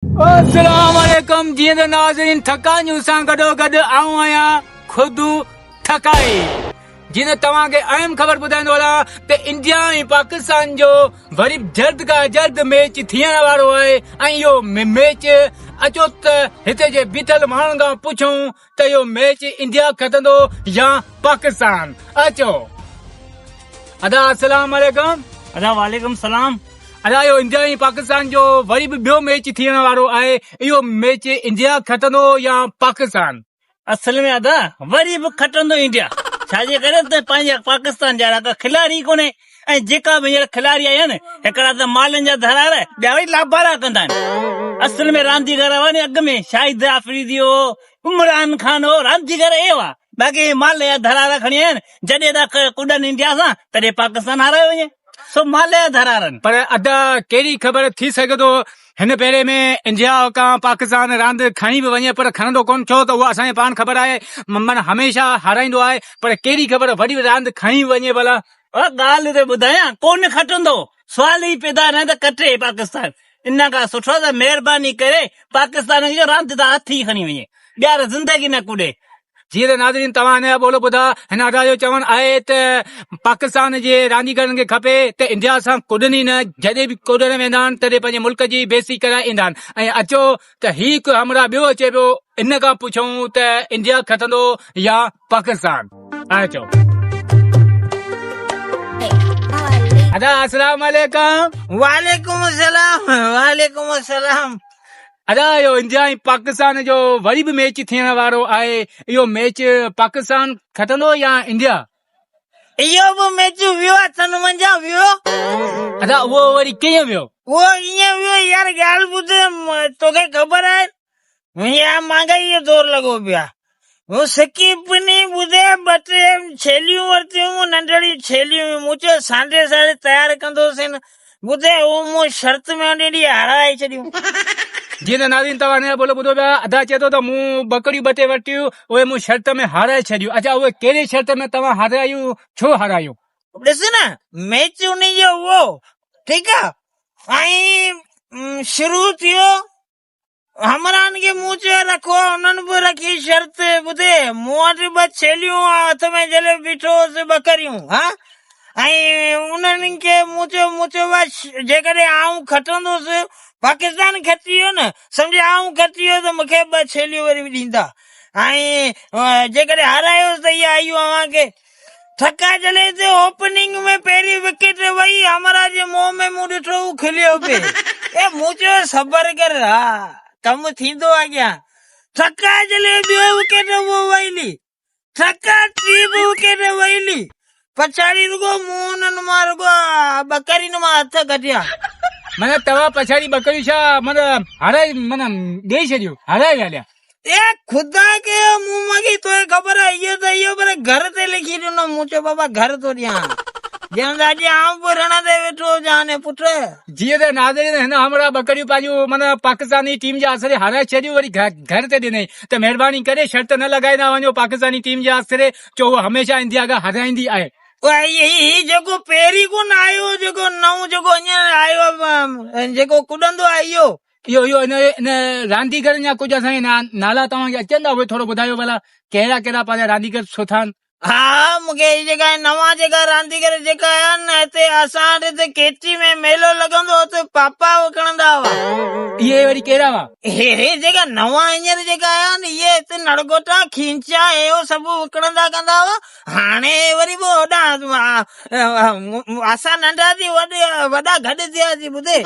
السلام عليڪم جيئن ته ناظرين ٿڪايون سان گڏو گڏ آئون آهيان خود ٿڪائي جيئن ته توهان کي اهم خبر ٻڌائيندو هلان ته انڊيا ۽ پاڪستان جو وري جلد کان جلد ميچ ٿيڻ وارو آهي ۽ اهو ميچ اچو ته هتي جي بيٺل ماڻهن کان پڇون ته اهو ميچ انڊيا کٽندو يا پاڪستان اچو ادا السلام عليڪم ادا وعليڪم السلام ادا اهو انڊيا ۽ پاڪستان جو وري به ٻيو ميچ ٿيڻ وارو آهي اهو ميچ انڊيا کٽندو يا پاڪستان اصل ۾ ادا وري به کٽندو انڊيا ڇاجي ڪري ته پنهنجا پاڪستان جهڙا ڪا کلاڙي ڪونهي ۽ جيڪا به هينئر کلاري آيا آهن هڪڙا ته مالن جا ڌرار ٻيا وري لابارا ڪندا آهن اصل ۾ رانديگر هئا ني اڳ ۾ شاهد آفريدي هو عمران خان هو رانديگر اهي هئا باقي هي مال جا ڌرارا کڻي آيا آهن جڏهن ته ڪڏن انڊيا سان تڏهن پاڪستان هارايو وڃي سو مال جا ڌرارن. پر ادا ڪهڙي خبر ٿي سگهي ٿو هن ڀيري ۾ انجياء کان پاڪستان راند کڻي به وڃي پر کڻندو ڪونه ڇو ته اها اسان کي پاڻ خبر آهي ممن هميشه هارائيندو آهي پر ڪهڙي خبر وڏي راند کڻي به وڃي ڀلا. اها ڳالهه ته ٻڌايان ڪونه کٽندو سوال ئي پيدا نه ته کٽي پاڪستان ان کان سٺو ته مهرباني ڪري پاڪستان کي راند تان هٿ ئي کڻي وڃي ٻيهر زندگي نه ڪوڏي جيئن ته ناظرين توهان هن جا ٻول ٻڌا هن ادا جو چوڻ آهي ته پاڪستان جي رانديگرن کي کپي ته انڊيا سان ڪڏن ئي نه جڏهن به ڪڏڻ ويندا آهن تڏهن پنهنجي ملڪ جي بيستي ڪرائي ايندا آهن ۽ اچو ته هي هڪ همراهه ٻيو اچي پيو ان کان پڇون ته انڊيا کٽندو يا پاڪستان اچو ادا السلام عليڪم وعليڪم السلام وعليڪم السلام ادا اهو انڊيا ۽ پاڪستان جو وري به ميچ ٿيڻ وارو آهي اهو ميچ پاڪستان کٽندو يا انڊيا؟ اهو به ميچ ويو اٿن منجهان ويو. ادا اهو وري ڪيئن ويو؟ اهو ائين ويو يار ڳالهه ٻڌ توکي خبر آهي وڃي آ مانگا اهو دور لڳو پيو آهي مون سڪي پني ٻڌي ٻه ٽي ڇيليون ورتيون هيون ننڍڙيون ڇيليون هيون مون چيو سانڍي ساڙي تيار ڪندوسين ٻڌي هو مون شرط ۾ هني ڏي هارائي ڇڏيون جي ته ناظرين توهان هن جا ٻول ٻڌو پيا ادا چئي ٿو ته مون ٻڪريون ٻه ٽي ورتيون اهي مون شرط ۾ هارائي ڇڏيون اڇا اهي ڪهڙي شرط ۾ توهان هارايون ڇو هارايون. ڏس نه ميچ انهي جو هئو ٺيڪ آ ۽ شروع ٿيو همراهن کي مون چيو رکو، انهن به رکي شرط ٻڌي، مون وٽ ٻه ڇيليون ۽ هٿ ۾ جهليو بيٺو هوس ٻڪريون ها ۽ انهن کي مون چيو مون چيو بس جيڪڏهن آئون کٽندوس پاڪستان کٽي ويو نه سمجهه آئون کٽي ويو ته مون کي ٻه ڇيليون وري به ڏيندا ۽ جيڪڏهن هارايوس ته اها ايون اوهان کي ڇڪا جھلي تي اوپننگ ۾ پهرين وڪيٽ وئي، همراهه جي منهن ۾ مون ڏٺو هو کليو پئي ۽ مون چيو صبر ڪر ها ڪم ٿيندو اڳيان، ڇڪا جھلي ٻيو وڪيٽ اهو وئلي، ڇڪا ٽي به وڪيٽ وئلي، پڇاڙي رڳو مون انهن مان رڳو ٻڪرين مان هٿ ڪڍيا. من توهان پڇاڙي ٻڪريون ڇا من هارائي من ڏيئي ڇڏيو هارائي ويا ليا. اي خدا کي مون مگي توکي خبر آهي اهو ته اهو پر گهر تي لکي ڏنو مون چيو بابا گهر ٿو ڏيان ڄڻ ته اڄ آئون به رڻ تي ويٺو هجان ني پٽ جيئن ته ناظرين هن همراهه ٻڪريون پنهنجون من پاڪستاني ٽيم جي آسري هارائي ڇڏيون وري گهر تي ڏنئي ته مهرباني ڪري شرط نه لڳائيندا وڃو پاڪستاني ٽيم جي آسري جو هو هميشه انڊيا کي هارائيندي آهي هي جيڪو پهرين ڪونه آيو جيڪو نئون جيڪو هينئر آيو جيڪو ڪڏندو آهي اهو اهو اهو ان ان رانديگرن جا ڪجهه اسان کي نالا توهان کي اچن ٿا اهي ٿورو ٻڌايو ڀلا ڪهڙا ڪهڙا پنهنجا رانديگر سٺا آهن ها مونکي هي جيڪا نوان جيڪا رانديگر جيڪا آيا آهن نه هتي اسان وٽ هتي ڪيچي ۾ ميلو لڳندو هو ته پاپا وڪڻندا هئا اهي وري ڪهڙا هئا هي هي جيڪا نوان هينئر جيڪا آيا آهن اهي هتي نڙگوٽا کينچا اهو سڀ وڪڻندا ڪندا هئا هاڻي وري به هوڏانهن اسان ننڍا ٿي وڏا گڏ ٿياسين ٻڌي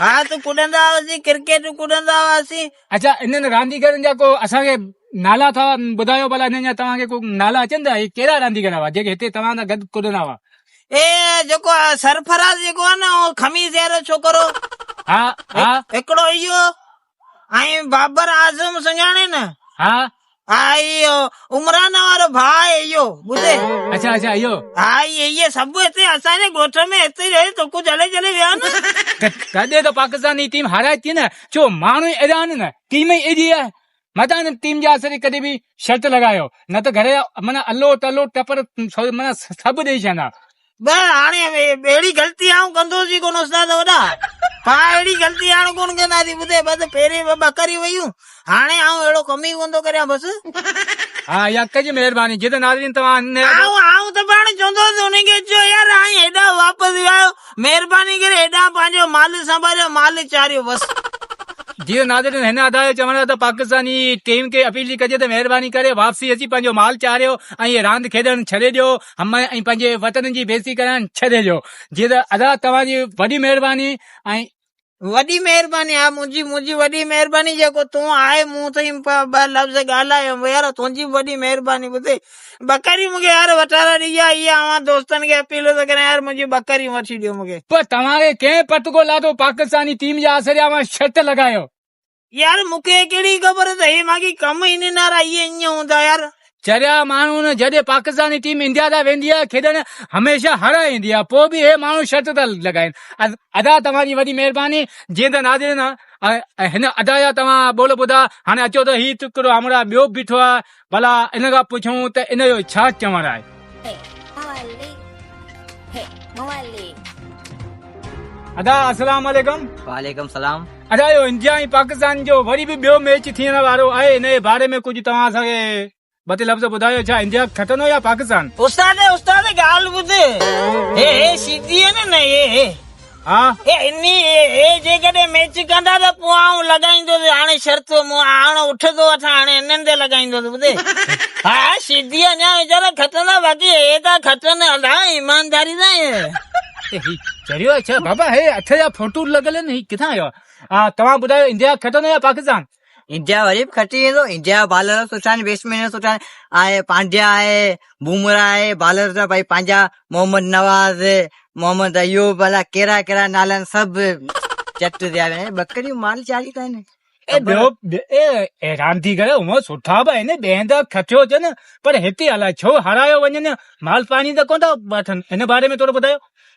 ها تون ڪڏندا هئاسين ڪرڪيٽون ڪڏندا هئاسين اچا انهن رانديگرن جا ڪو اسان کي نالا ٿا ٻڌايو ڀلا انهن جا توهان کي ڪو نالا اچن ٿا هي ڪهڙا رانديگر هئا جيڪي هتي توهان سان گڏ ڪڏندا هئا اي جيڪو سرفراز جيڪو آ نه خميس جهڙو ڇوڪرو ها ها هڪڙو اهو ۽ بابر اعظم سڃاڻين نه؟ ها ها ايو عمران وارو ڀاء ايو ٻڌي اچا اچا ايو ها ايي سڀ هتي اسان جي ڳوٺ ۾ هتي رهي توکو جلي جلي ويا نه تڏهن ته پاڪستاني ٽيم هارائي ٿي نه ڇو ماڻهو ئي اهڙا آهن نه ٽيم ئي اهڙي آهي متان هن ٽيم جي آسري ڪڏهن به شرط لڳايو نه ته گهر جا معنيٰ الو تلو ٽپر معنيٰ سڀ ڏيئي ڇڏندا بس هاڻي اهڙي غلطي آئون ڪندوس ئي ڪونه استاد وڏا. پاء اهڙي غلطي هاڻ ڪونه ڪنداسين ٻڌي بس پهرين ٻه ٻڪريون ويون هاڻي آئون اهڙو ڪم ئي ڪونه ٿو ڪريان بس. ها اها ڪجي مهرباني جي ته ناظرين توهان هن. آئون آئون ته پاڻ چوندوس انهن کي چو يار آئين هيڏانهن واپس ويا آهيو مهرباني ڪري هيڏانهن پنهنجو مال سنڀاليو مال چاريو بس. جي ته ناظرين هن ادا جي چوڻ تي پاڪستاني ٽيم کي اپيل ٿي ڪجي ته مهرباني ڪري واپسي اچي پنهنجو مال چاريو ۽ هي راند کيڏڻ ڇڏي ڏيو هم ۽ پنهنجي وطن جي بيعزتي ڪرڻ ڇڏي ڏيو جيئن ته ادا توهان جي وڏي مهرباني ۽. وڏي مهرباني ها منهنجي منهنجي وڏي مهرباني جيڪو تون آهي مون تائين ٻه لفظ ڳالهايم ويار تنهنجي به وڏي مهرباني ٻڌي ٻڪريون مون کي يار وٺارا ڏي يا اها اوهان دوستن کي اپيل ٿو ڪريان يار منهنجي ٻڪريون وٺي ڏيو مون کي. پر توهان کي ڪنهن پٽڪو لاٿو پاڪستاني ٽيم جي آسري اوهان شرط لڳايو. يار مون کي ڪهڙي خبر ته هي ماڳهين ڪم ئي ننارا اهي ائين هوندا يار. چريا ماڻهو نه جڏهن پاڪستاني ٽيم انڊيا ڏانهن ويندي آهي کيڏڻ هميشه هر ايندي آهي پوء به هي ماڻهو شرط ٿا لڳائين ادا توهان جي وڏي مهرباني جيئن ته ناظرين هن ادا جا توهان ٻول ٻڌا هاڻي اچو ته هي ٽڪرو همراهه ٻيو به بيٺو آهي ڀلا ان کان پڇون ته ان جو ڇا چوڻ آهي؟ ادا السلام عليڪم وعليڪم السلام ادا اهو انڊيا ۽ پاڪستان جو وري به ٻيو ميچ ٿيڻ وارو آهي ان جي باري ۾ ڪجهه توهان اسان کي ٻه ٽي لفظ ٻڌايو ڇا انڊيا کٽندو يا پاڪستان استاد استاد ڳالهه ٻڌ هي هي سيڌي آهي نه نه هي هي ها. انهي اي جيڪڏهن ميچ ڪندا ته پوء آئون لڳائيندوس هاڻي شرط مون آڻ اٺ ٿو وٺان هاڻي انهن تي لڳائيندوس ٻڌي ها شيدي اڃا ويچارا کٽندا باقي اي ٿا کٽن الا ايمانداري سان اي هي چريو اڇا بابا هي اٿ جا ڦوٽو لڳل آهن هي ڪٿان آيو آ توهان ٻڌايو انڊيا کٽندو يا پاڪستان. انڊيا وري به کٽي ويندو انڊيا بالر سٺا آهن بيٽسمين سٺا آهن آهي پانڊيا آهي بومرا آهي بالر سڀ ڀائی پنهنجا محمد نواز محمد ايوب الا ڪهڙا ڪهڙا نالا آهن سڀ چٽ ٿيا ويا آهن ٻڪريون مال چاري ٿا آهن اي ٻيو اي حيران ٿي ڪري هونء سٺا به آهن ٻين هنڌ کٽيو اچن پر هتي الاء ڇو هارايو وڃن مال پاڻي ته ڪونه ٿا وٺن ان باري ۾ ٿورو ٻڌايو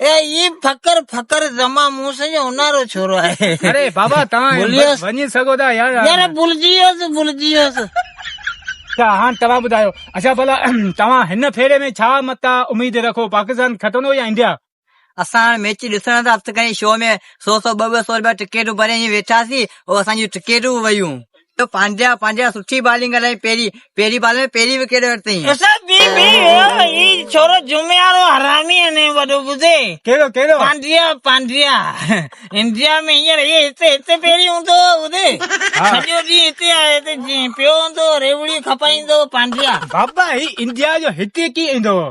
اي اي فقر فقر زما مون سان جو انارو ڇورو آهي اري بابا تان بوليس وني سگو دا يار يار بولجيوس بولجيوس اچھا هان توهان ٻڌايو اچھا ڀلا توهان هن ڦيري ۾ ڇا متا اميد رکو پاڪستان کٽندو يا انڊيا اسان هاڻي ميچ ڏسڻ ٿا هٿ کڻي شو ۾ سو سو ٻه ٻه سو رپيا ٽڪيٽون ڀري ائين ويٺاسين او اسان جون ٽڪيٽون به ويون ته پانڊيا پانڊيا سٺي بالنگ هلائين پهرين پهرين بال ۾ پهرين وڪيٽ ورتائين. اسا بي بي ويو هي ڇورو جمعي وارو حرامي انهي وڏو ٻڌي. ڪهڙو ڪهڙو. پانڊيا پانڊيا انڊيا ۾ هينئر هي هتي هتي پهرين هوندو هو ٻڌي سڄو ڏينهن هتي آهي هتي جيئن پيو هوندو هو ريوڙي کپائيندو هو پانڊيا. بابا هي انڊيا جو هتي ڪيئن ايندو هو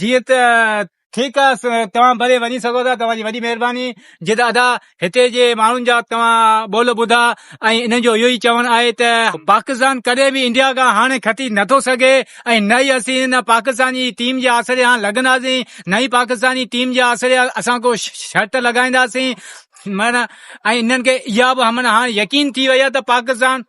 جيئن ته ٺيڪ آ توهان ڀلي وڃي سگهو ٿا توهان جي وڏي مهرباني جي ته ادا هتي جي ماڻهن جا توهان ٻول ٻڌا ۽ انهن جو اهو ئي چوڻ آهي ته پاڪستان ڪڏهن به انڊيا کان هاڻي کٽي نٿو سگهي ۽ نه ئي اسين هن پاڪستان جي ٽيم جي آسري هاڻ لڳنداسين نه ئي پاڪستاني ٽيم جي آسري اسان ڪو شرط لڳائينداسين معنيٰ ۽ انهن کي اها به معنيٰ هاڻ يقين ٿي وئي آهي ته پاڪستان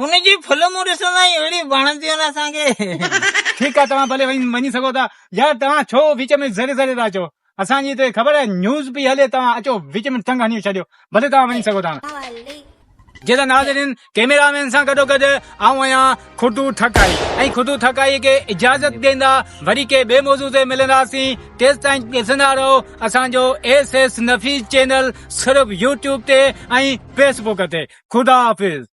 هن جي فلمون ڏسندا آهيون اهڙيون وڻنديون آهن اسان کي. ٺيڪ آهي توهان ڀلي وڃي سگهو ٿا. يار توهان ڇو وچ ۾ زري زري ٿا اچو اسان جي هتي خبر آهي نيوز پئي هلي توهان اچو وچ ۾ ٽنگ هنيو ڇڏيو ڀلي توهان وڃي سگهو ٿا. جي ته ناظرين ڪيميرا مين سان گڏو گڏ آئون آهيان خدو ٺڪائي ۽ خدو ٺڪائي کي اجازت ڏيندا وري ڪي ٻي موضوع تي ملنداسين تيستائين ڏسندا رهو اسان جو ايس ايس نفيس چينل صرف يوٽيوب تي ۽ فيسبوڪ تي خدا حافظ.